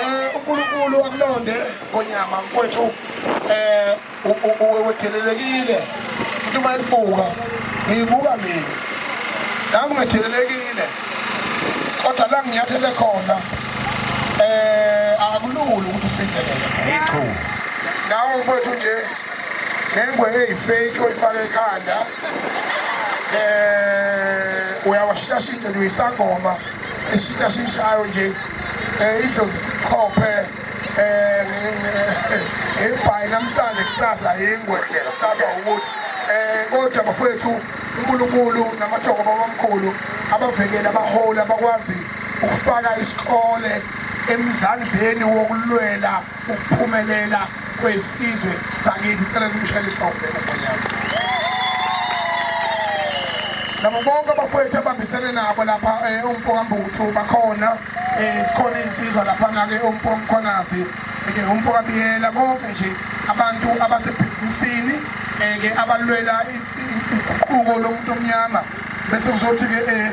Eh, uNkulunkulu akulonde konyama mfowethu eh uwethelelekile umuntu uma ebuka ngibuka mina nami ngethelelekile kodwa la nginyathele khona eh akulula ukuthi ufikelele iqhu nawe mfowethu nje ngengwe eyifake oyifake ekhanda eh uyawashashita nje uyisangoma eshintsha shintshayo nje eh idlozi sikhophe eh ebhayi namhlanje kusasa yingwe kusasa ukuthi eh kodwa bafowethu uNkulunkulu namathongo babamkhulu abavekela abaholi abakwazi ukufaka isikole emdlandleni wokulwela ukuphumelela kwesizwe sakithi ngicela nimshayele ihlombe umonyama nabo bonke abafowethu abambisene nabo lapha eh, umpokambuthu bakhona um sikhona iy'nsizwa laphana-ke umpokamkhonazi ke umpokabiyela konke nje abantu abasebhizinisini um-ke abalwela uguquko lomuntu omnyama bese kuzothi-ke um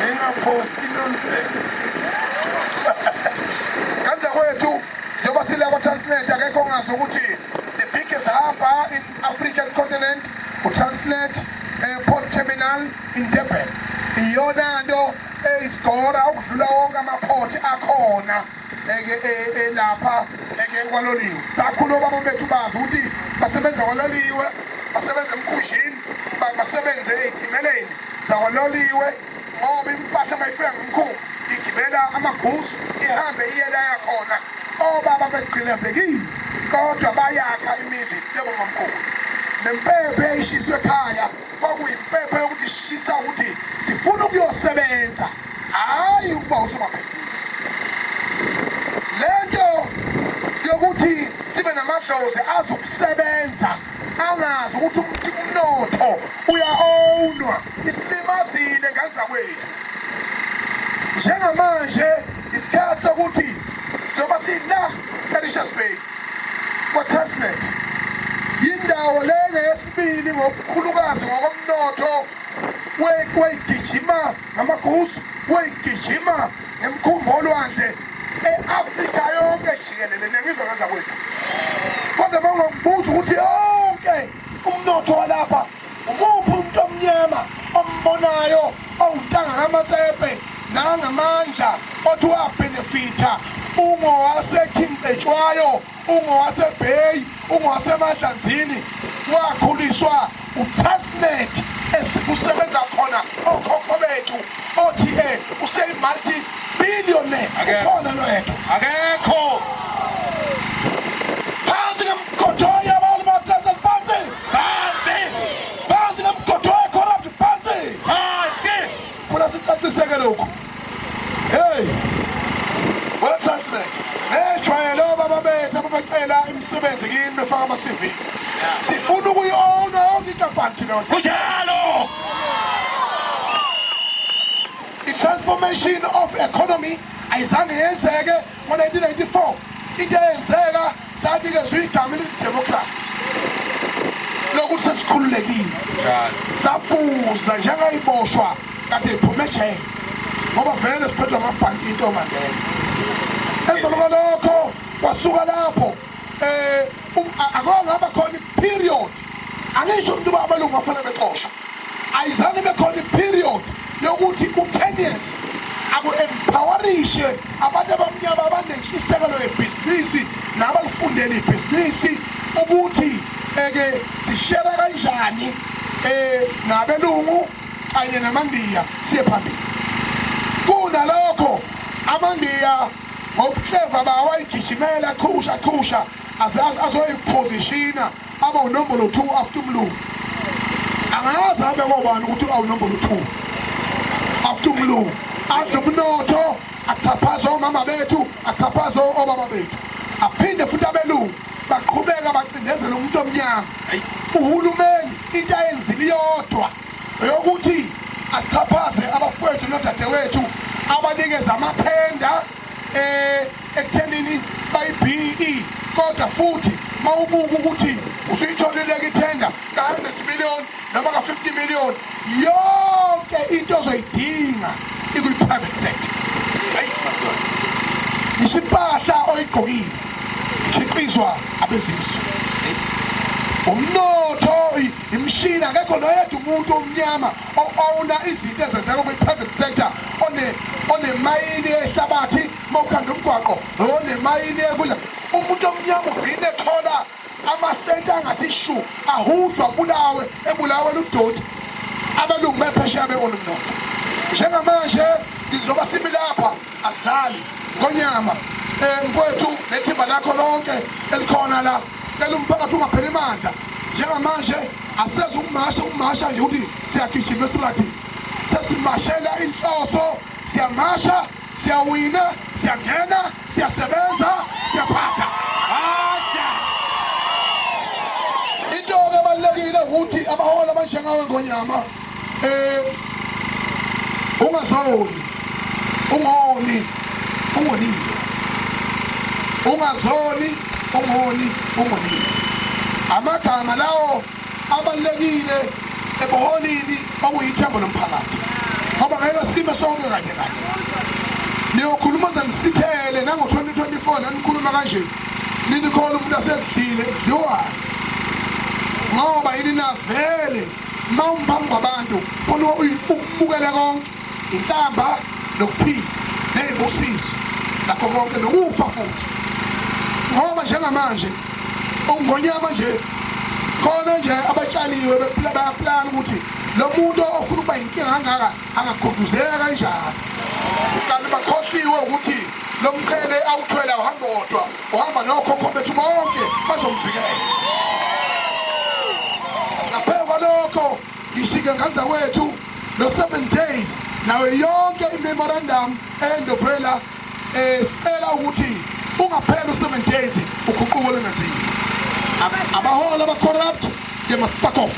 Ningaphosti nonsense. Kanti kwethu njengoba sila kwa Transnet akekho ongazi ukuthi the biggest harbour in African continent uTransnet eh, port terminal in Durban. Iyona nto eyisigora ukudlula wonke amaport akhona. eke e- e- lapha eke kwaloliwe sakhula obaba bethu bazi ukuthi basebenza kwaloliwe basebenza emkhunjini ba- basebenze ey'timeleni zakwaloliwe ngoba impahla mayifika ngomkhulu igibela amaguzu ihambe iyelaya khona obaba begqilazekile kodwa bayakha imizi njengomamkhulu nempepho eyayishiswe ekhaya Kwakuyimpepho yokushisa ukuthi sifuna ukuyosebenza, hhayi ukuba usomabhizinisi. Le nto yokuthi sibe namadlozi azi ukusebenza angazi ukuthi umnotho uya-ownwa isilimazile ngane zakwethu njengamanje isikhathi sokuthi sizoba sila erishes bay kwatasnet yindawo lengesi Pili ngokukhulukazi ngokomnotho wayigijima ngamaguzu wayigijima ngemkhumbi olwandle e-afrika yonke jikelele nengizwe ngenza kwethu kodwa uma ungakubuza ukuthi yonke umnotho walapha umuphi umuntu omnyama ombonayo owuntanga kamatsepe nangamandla othi wabhenefitha ungowasekhingqetshwayo ungowaseBay ungowaseMadlanzini wakhuliswa uTrustnet esikusebenza khona okhokho bethu othi eh useyimulti billionaire ukhona lwethu akekho phansi ngemgodoya abantu bathatha phansi phansi phansi ngemgodoya corrupt phansi phansi funa sicaciseke lokhu hey wathasnet nejwayele obaba bethu ababecela imisebenzi kini befaka ama-cv sifuna ukuyi-owna yonke inkampani thina kunjalo i-transformation of economy ayizange yenzeke Ngo-1994 into eyenzeka sanikezwa igama elithi democracy lokuthi sesikhululekile safuza njengayiboshwa kade iphume ejele ngoba vele siphethwa amabhanti into mandela emva kwalokho kwasuka lapho um akongaba khona i-period angisho umuntu uba amalungu afanele bexoshwa ayizange ibe khona iperiod yokuthi ku-tennis aku-empowerishe abantu abamnyama abanentshisekelo yebhizinisi nabalifundele ibhizinisi ukuthi eke sishera kanjani um nabelungu kanye namandiya siye phambili kunalokho amandiya ngobuhleva bawo ayigijimela qhusha qhusha azoyiphozishina abe unombolo 2 after umlungu angazi abe kobani ukuthi awunombolo 2 after umlungu adle umnotho axhaphaze omama bethu axhaphaze obaba bethu aphinde futhi abelungu baqhubeka bacindezela umuntu omnyama uhulumeni into ayenzile iyodwa eyokuthi axhaphaze abafowethu nodadewethu abanikeza amathenda eh ekuthenini bayi-BE kodwa futhi mawubuka ukuthi usuyitholeleke ithenga ka-100 million noma ka-50 million yonke into ozoyidinga ikwi-private sector hayi ngisho impahla oyigqokile ikhiqizwa abezizwe umnotho imishini akekho noyedwa umuntu omnyama o-owna izinto ezenzeka kwi-private sector onemayini yehlabathi uma ukhanda umgwaqo onemayini yekudla umuntu omnyama ugcine ethola amasenti angathi shu ahudlwa bulawe ebulawe ludoti abelungu bephesheya beona umnotho njengamanje ngizoba sibi lapha asidlali ngonyama um kwethu nethimba lakho lonke elikhona la cela umphakathi ungapheli mandla njengamanje Asezi ukumasha ukumasha nje ukuthi siyagijima estrathi sesimashela inhloso siyamasha siyawina siyangena siyasebenza siyaphatha into-ke ebalulekile ukuthi abaholi abanjengawe ngonyama Eh ungazoni ungoni ungonile ungazoni ungoni ungonile amagama lawo abalekile ekuholini okuyithembo lomphakathi ngoba ngeke sime sonke kanye kanye niyokhuluma ze nisithele nango-2024 nanikhuluma kanje ninikhona umuntu asedlile edliwayo ngoba yini navele uma umphambi kwabantu funa ukubukele konke inhlamba nokuphila ney'busiso nakho konke nokufa futhi ngoba njengamanje ungonyama nje khona nje abatshaliwe bephila bayaplana ukuthi lo muntu ofuna ukuba yinkinga angaka angakhuduzeka kanjani kanti bakhohliwe ukuthi lo mqhele awuthwele awuhambi wodwa Wahamba nokhokho bethu bonke bazomvikela. Ngaphezu kwalokho ngishike nganda wethu no 7 days nayo yonke imemorandum endophela eh sicela ukuthi ungaphela u7 days uguquko lengaziwa. Abaholi aba corrupt they must back off.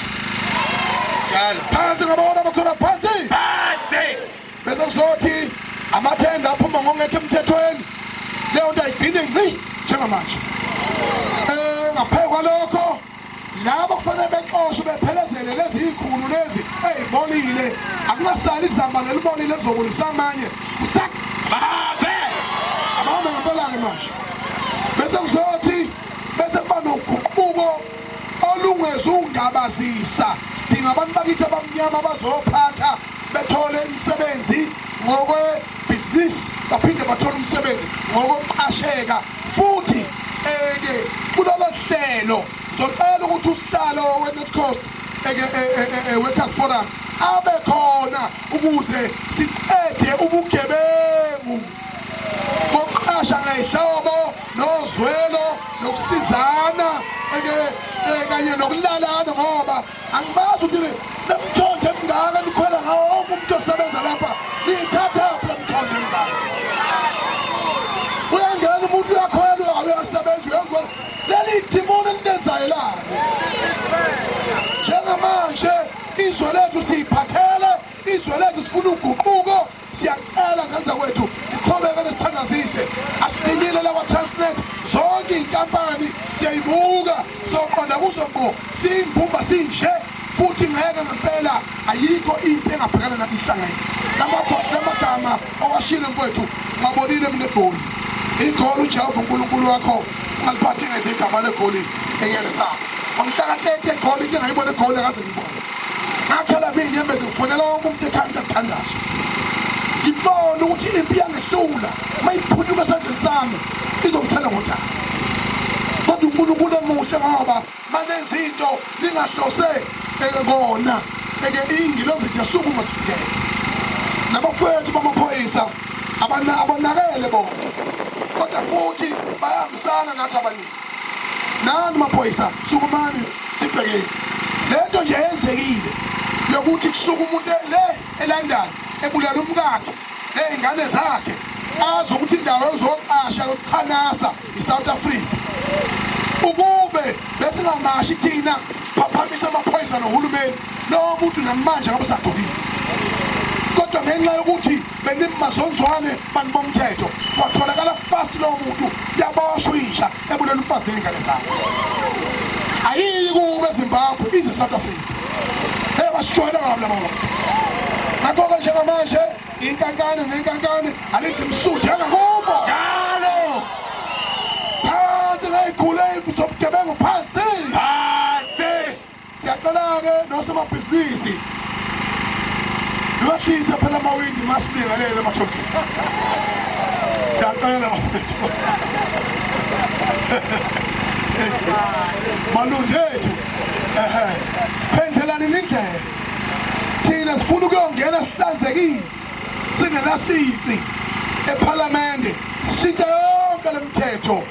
Phansi ngabaholi aba corrupt phansi. Bese kuzothi amathenda aphuma ngongekho emthethweni leyo nto ayigcine ngqi njengamanje um ngaphezu kwalokho labo kufanele bexoshwe bephelezele lezi yikhulu lezi eyibolile akungasali izamba lelibolile lizobulisa amanye kusabave abahamba ngempelake manje bese kuzothi bese kuba noguquko olungezungabazisa dinga abantu bakithi abamnyama bazophatha bethole imisebenzi ngokwebhizinisi baphinde bathole umsebenzi ngokokuqasheka futhi eke kulolo hlelo zocela ukuthi usihlalo we-north coast workers forum abe khona ukuze siqede ubugebengu bokuqasha ngayihlobo nozwelo nokusizana kanye nokulalana ngoba angibazi ukuthi nemthonje emingaka nikhwela ngawo wonke umuntu osebenza lapha niyithatha yaphi lemthonje emingaka uyangena umuntu uyakhwela uyasebenza uyenza leli dimoni elinenzayo lani njengamanje izwe lethu siyiphathele izwe lethu sifuna uguquko siyacela ngenza kwethu iqhubeke nesithandazise asifinyile la kwa-transnet zonke iy'nkampani siyayibuka soqonda kuzo ngqo siyimbumba sinje futhi ngeke ngempela ayikho into engabhekana nathi ihlangene lamagama owashile mfowethu ngabonile mina egoli igoli ujehova unkulunkulu wakho ungaliphathi ngezigama legoli enyele sakho wamhlaka 30 egoli into engayibona egoli akaze ngibone ngakhala ngiyinyembezi ngifonela wonke umuntu ekhanda kuthandazo ngibone ukuthi impi yangehlula uma iphunyuka esandleni sami izongithela ngodaba kodwa unkulunkulu emuhle ngoba manenza into lingahlose kona eke ingilozi ziyasukuma sifikele nabafowethu bamaphoyisa abanakele bona kodwa futhi bayahambisana nathi abaningi nani maphoyisa sukumani sibhekile lento nje yenzekile yokuthi kusuka umuntu le elandani ebulala umkakhe ney'ngane zakhe azi ukuthi indawo ezoqasha yokuqhanasa i-south africa ukube besingamashi thina siphaphamisa amaphoyisa nohulumeni lowo muntu namanje ngabe sagqokile kodwa ngenxa yokuthi bengithi mazonzwane bantu bomthetho watholakala fast lowo muntu yaboshwa inja ebulela umfazi nezingane zakhe ayiyi kube ezimbabwe ize south africa hey basishwela ngabo laba bantu ngakho-ke njengamanje inkankane nenkankane alithi msuthu yangakubo njalo phansi ngeyigule zobugebengu phansi Siyacela-ke nosomabhizinisi lwehlise phela amawindi masibingelele emathokeni. Siyacela bafethu. Malundethu. Ehhe. Phendelani indlela. Thina sifuna ukuyongena sihlanzekile. Singenasici ephalamende. Sishintshe yonke lemithetho.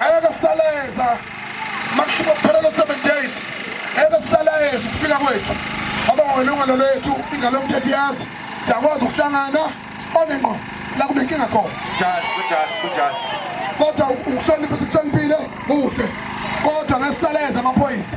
Eke saleza makushiba kuphela lo 7 days. Eke saleza ukufika kwethu. Ngoba ngolungelo lwethu ingalo yomthetho yazi siyakwazi ukuhlangana sibone ngqo la kunenkinga khona. Njalo, kunjalo, kunjalo. Kodwa ukuhlonipha sikuhloniphile kuhle. Kodwa ngesaleza amaphoyisa.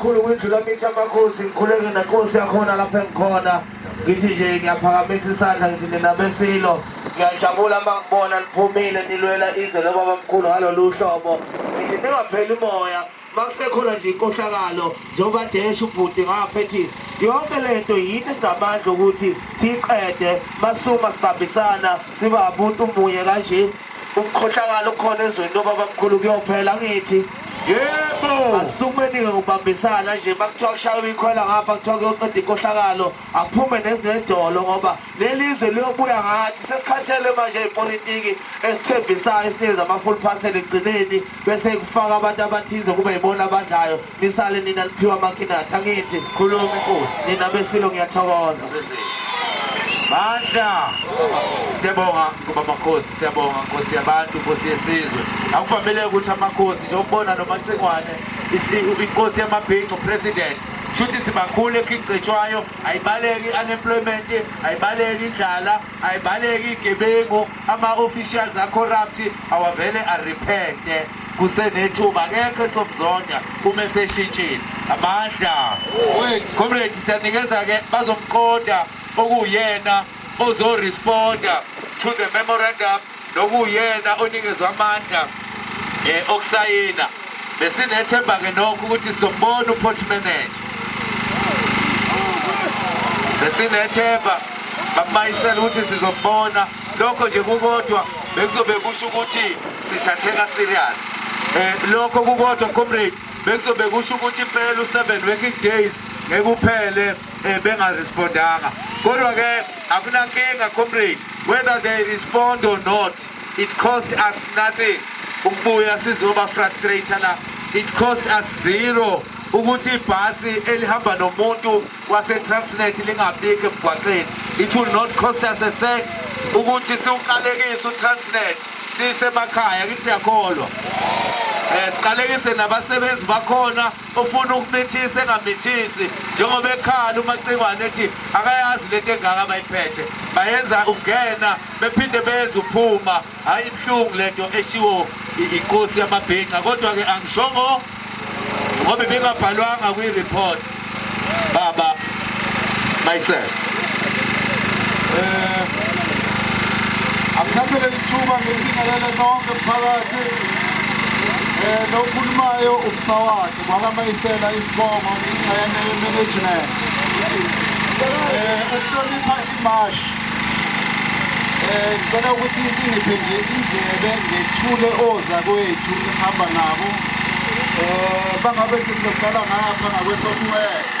kakhulu kwindlu lamithi amakhosi ngikhuleke nenkosi yakhona lapho engikhona ngithi nje ngiyaphakamisa isandla ngithi nina besilo ngiyajabula uma ngibona niphumile nilwela izwe lobabamkhulu ngalolu hlobo ngithi ningapheli moya Makusekhona nje inkohlakalo njengoba desha ubhuti ngapha ethi yonke lento yithi sinamandla ukuthi siyiqede masuma sibambisana siba abantu munye kanje ukukhohlakala okukhona ezweni lobabamkhulu kuyophela ngithi yebo asukubeni-ke ngokubambisana nje uma kuthiwa kushaywa ikhwela ngapha kuthiwa kuyoceda inkohlakalo Aphume nezinedolo ngoba lelizwe liyobuya ngathi sesikhathele manje ipolitiki esithembisayo esinikeza ama-full parcel egcineni bese kufaka abantu abathize kube yibona abadlayo nisale nina liphiwa amakinati angithi khuluma inkosi nina besilo ngiyathokoza bandla siyabonga ngoba amakhosi siyabonga nkosi yabantu nkosi yesizwe akuvamile ukuthi amakhosi njengokubona nomacingwane inkosi yamabhinco president shuthi sibakhulu ekhicetshwayo ayibaleki i-unemployment ayibaleki indlala ayibaleki igebengu ama-officials acorrupt awavele arepente kusenethuba akekho esomzonda uma eseshintshile amandla comrade siyanikeza-ke bazomqonda okuwuyena ozoresponda to the memorandum nokuwuyena onikezwa amandla eh, okusayina besinethemba-ke nokho ukuthi sizombona uport manager besinethemba bamayisela ukuthi sizombona lokho nje kukodwa bekuzobe kusho ukuthi sithatheka serious um lokho kukodwa comrade bekuzobe kusho ukuthi impela u-seven working days ngeke uphele eh, bengarespondanga kodwa ke akunankinga comrade whether they respond or not it cost us nothing ukubuya sizoba frustrator la it cost us zero ukuthi ibhasi elihamba nomuntu wasetransnet lingabiki emgwaqeni it will not cost us a cent ukuthi siwuqalekise utransnet sisemakhaya kithi siyakholwa um siqalekise nabasebenzi bakhona ufuna ukumithisa engamithisi njengoba ekhala umacikwane ethi akayazi lento engaka abayiphethe bayenza ukungena bephinde benze uphuma hhayi ibuhlungu lento eshiwo inkosi yamabhinca kodwa-ke angishongo ngoba ibingabhalwanga kwi-report baba mayicela eh akuthathe leli thuba ngelingalele nonke mphakathi eh lokhulumayo ubusawakhe kwakamayisela isibongo ingxenye yemanagement eh ukuhlonipha imashi eh ngicela ukuthi ingiphe nje indlebe ngethule ozakwethu esihamba nabo eh bangabe sizoqala ngapha ngakwesokuwela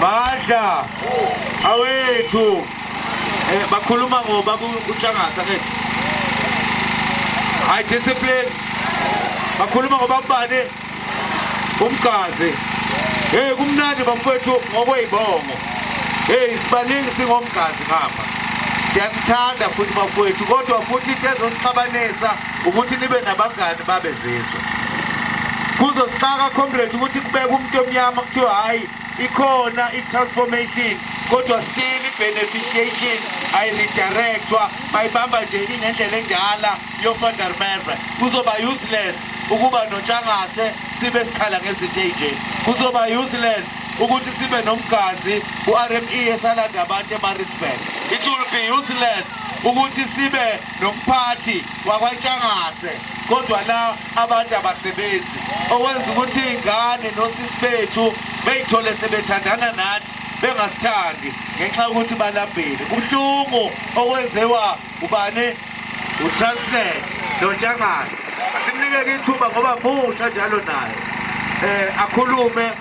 Madla awethu eh bakhuluma ngoba kutshangatha ke hayi discipline bakhuluma ngoba kubani umgazi hey kumnandi bamfethu ngokweyibongo hey sibaningi singomgazi ngapha siyakuthanda futhi bafowethu kodwa futhi into ezosixabanisa ukuthi nibe nabangani babe zizwe kuzosixaka comrade ukuthi kubeka umuntu omnyama kuthiwa hhayi ikhona i-transformation kodwa still i-beneficiation ayiridirectwa bayibamba nje ingendlela endala yofather merve kuzoba useless ukuba notshangase sibe sikhala ngezinto ey'nje kuzoba useless ukuthi sibe nomgazi ku-rme esalanda abantu emarisburg it will be useless ukuthi sibe nomphathi wakwaNtshangase kodwa la abantu abasebenzi okwenza ukuthi iy'ngane nosisi bethu beyithole sebethandana nathi bengasithandi ngenxa yokuthi balambile kubuhlungu okwenziwa ubani utransnet nontshangase asimnikeke ithuba ngoba musha njalo naye um akhulume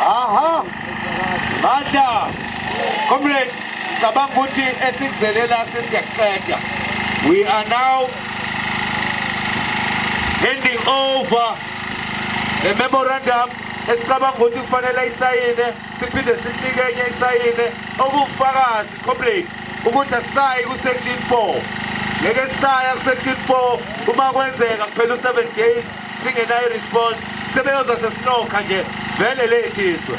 Aha. Manda. Comrade, cabanga ukuthi esikuzele la sesiyakuqeda. We are now handing over the memorandum esicabanga ukuthi kufanele isayine siphinde sisinike enye isayine okuwufakazi comrade ukuthi asisayi ku-section four ngeke sisaya ku-section four uma kwenzeka kuphela u-seven days singenayo response sebeyoza sesinokha nje vele lethi izwe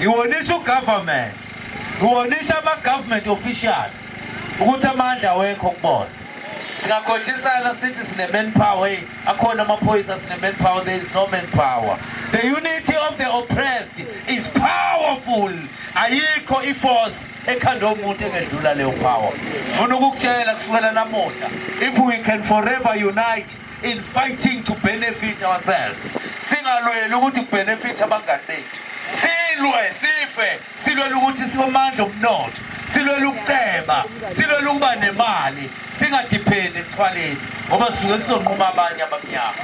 Iwonisa ugovernment, iwonisa ama-government officials ukuthi amandla awekho kubona. Singakhohlisana sithi sine-manpower, hey, akhona amaphoyisa sine-manpower, there is no manpower. The unity of the oppressed is powerful. Ayikho i-force ekhanda omuntu engedlula leyo power. Ngifuna ukukutshela kusukela namuhla, if we can forever unite, in fighting to benefit ourselves singalweli ukuthi kubenefitha abangani bethu silwe sife silwela ukuthi sikomandla omnotho silwela ukuceba silwela ukuba nemali singadiphendi ekuthwaleni ngoba sisuke sizonquma abanye abamnyama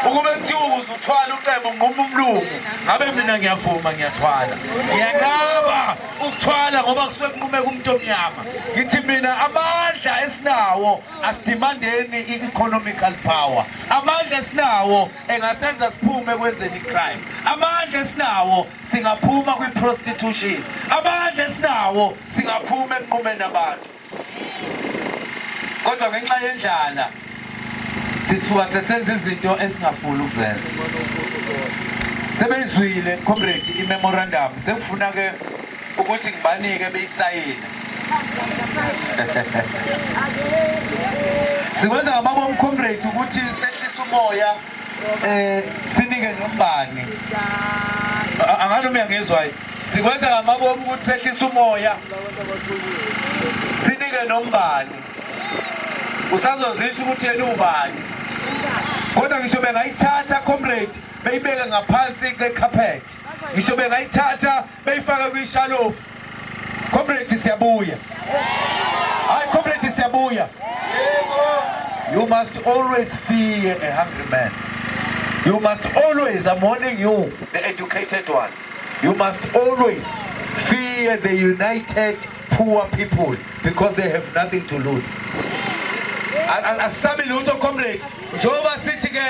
ukube kuthiwa ukuze uthwala uceba unquma umlungu ngabe mina ngiyavuma ngiyathwala ngiyanqaba ukuthwala ngoba kusuke kunqumeka umuntu omnyama ngithi mina amandla esinawo asidimandeni i-economical power amandla esinawo engasenza siphume ekwenzeni i-crime amandla esinawo singaphuma kwi-prostitution amandla esinawo singaphuma ekunqumeni abantu kodwa ngenxa yendlala sithuka sesenza izinto esingafuni ukuzenza sebeyizwile comrade i-memorandum sekufuna-ke ukuthi ngibanike beyisayina sikwenza ngababa omcomrade ukuthi sehlisa umoya um sinike nombani angani uma ngizwayo sikwenza ngamabomu ukuthi sehlisa umoya sinike nombani usazozisho ukuthi yena ubani kodwa ngisho bengayithatha comrade beyibeke ngaphansi kwekhaphethi ngisho bengayithatha beyifaka kwishalofu comrade siyabuya hayi comrade siyabuya you must always be a hungry man you must always i'm warning you the educated one you must always fear the united poor people because they have nothing to lose asabi lutho comrade njengoba sithi ke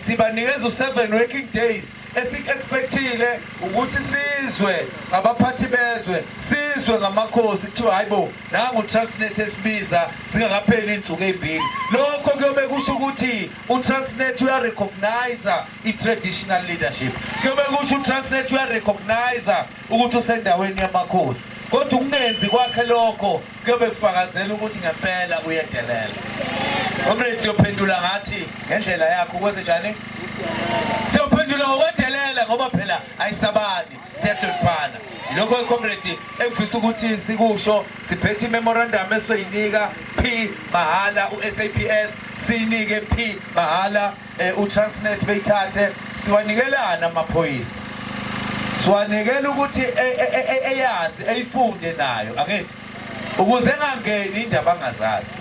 Sibanikeza u-seven working days esik-expectile ukuthi sizwe ngabaphathi bezwe sizwe ngamakhosi kuthiwa hayi bo nangu transnet esibiza zingakapheli iy'nsuku ey'mbili lokho kuyobe kusho ukuthi utransnet uyarecogniza i-traditional leadership kuyobe kusho utransnet uyarecogniza ukuthi usendaweni yamakhosi kodwa ukungenzi kwakhe lokho kuyobe kufakazela ukuthi ngempela uyedelela comrade siyophendula ngathi ngendlela yakho kwenze njani siyophendula ngokwedelela ngoba phela ayisabani siyahloniphana lokho icomrade engifisa ukuthi sikusho siphethe imemorandum esoyinika p mahhala u-saps siyinike p mahhala eh, uTransnet beyithathe siwanikelana amaphoyisa siwanikela ukuthi e, e, e, eyazi eyifunde nayo angithi ukuze engangeni indaba angazazi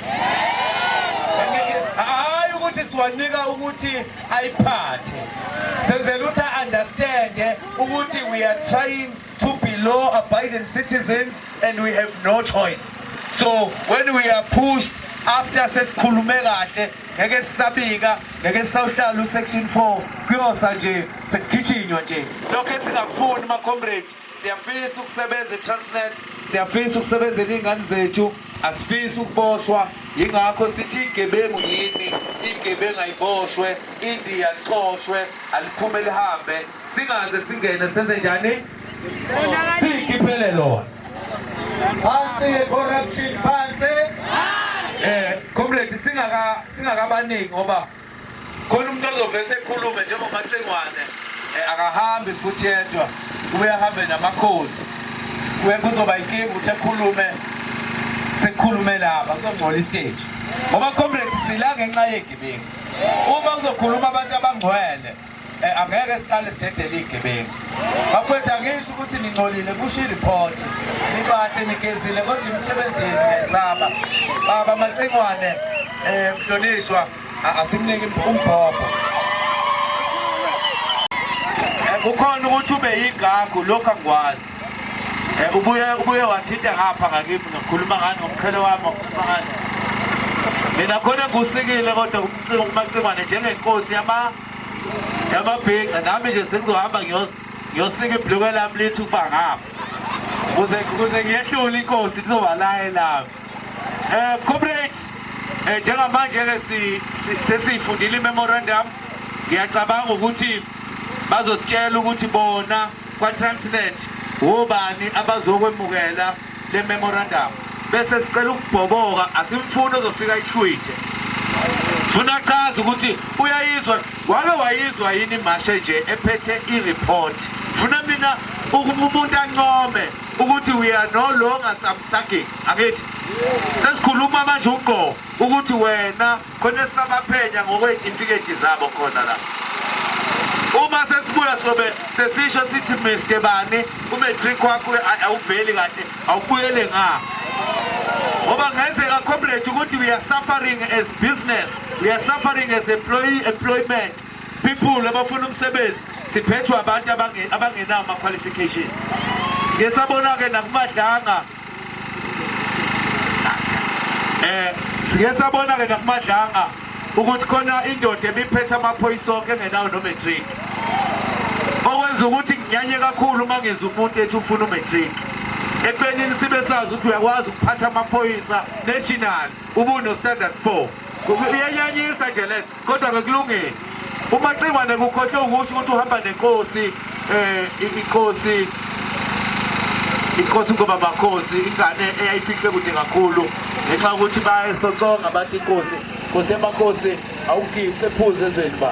hayi ukuthi siwanika ukuthi ayiphathe senzela ukuthi a-understande ukuthi we are trying to be law abiding citizens and we have no choice so when we are pushed after sesikhulume kahle ngeke sisabika ngeke sisawuhlala usection 4 kuyosa nje sekugitshinywa nje lokho esingakufuni macomrade siyafisa ukusebenza i-transnet siyafisa ukusebenzela iy'ngane zethu asifisi ukuboshwa yingakho sithi igebengu yini igebengu ayiboshwe indiya licoshwe aliphume lihambe Singaze singene senze njani? Sikhiphele lona. Phansi corruption phansi. Eh, comrade singaka singakabaningi ngoba khona umuntu ozovese ekhulume njengomacengwane eh, akahambi futhi yedwa kube ahambe namakhosi kube kuzoba inkinga ukuthi ekhulume sekukhulume laba kuzongcola isiteji ngoba comrade sila ngenxa yegebengu uma kuzokhuluma abantu abangcwele Eh, angeke siqale sidedele iy'gebengu bafowethu angisho ukuthi ningcolile kusho iriphothi nibahle nigezile kodwa imisebenzi yenu niyayisaba baba macingwane um eh, mhlonishwa asimniki umbhobho eh, kukhona ukuthi ube yigagu lokhu angikwazi Eh, ubuye ubuye wathinta ngapha ngakimi ngikhuluma ngani ngomkhele wami ngokukhuluma ngani mina khona ngusikile kodwa umcingo kumacingwane njengenkosi yama yamabhinca nami nje sengizohamba ngiyosika ibhluke lami lithi ukuba ngapha kuze kuze ngiyehlule inkosi kuzoba laye lami um eh, comrade um eh, njengamanje-ke sesiyifundile imemorandum ngiyacabanga ukuthi bazositshela ukuthi bona kwaTransnet wobani abazokwemukela le memorandum bese sicela ukubhoboka asimfuni ozofika ishwithe funa achaze ukuthi uyayizwa wake wayizwa yini imashe nje ephethe i-report funa mina ukuba umuntu ancome ukuthi we are no longer samsaging angithi sesikhuluma manje uqo ukuthi wena khona esabaphenya ngokweyitifiketi zabo khona la uma sesibuya sobe sesisho sithi mr bani umatric wakho awuveli kahle awubuyele nga ngoba ngenzeka comrade ukuthi we are suffering as business we are suffering as employee employment people abafuna umsebenzi siphethwe abantu abangenawo ama-qualification ngesabona-ke nakumadlanga eh siye sabona ke nakumadlanga ukuthi khona indoda ebiphethe amaphoyisa onke engenawo nomatric okwenza ukuthi nginyanye kakhulu uma ngizwa umuntu ethi ufuna umatric ekubeni sibe sazi ukuthi uyakwazi ukuphatha amaphoyisa national ubunostandard four uyanyanyisa nje lento Kodwa bekulungile. UMacingwane kukhohlwe ukusho ukuthi uhamba nenkosi eh inkosi inkosi ngoba makhosi ingane eyayifihle kude kakhulu ngenxa ukuthi bayesoconga bathi inkosi nkosi emakhosi awufihle ephuze ezweni ba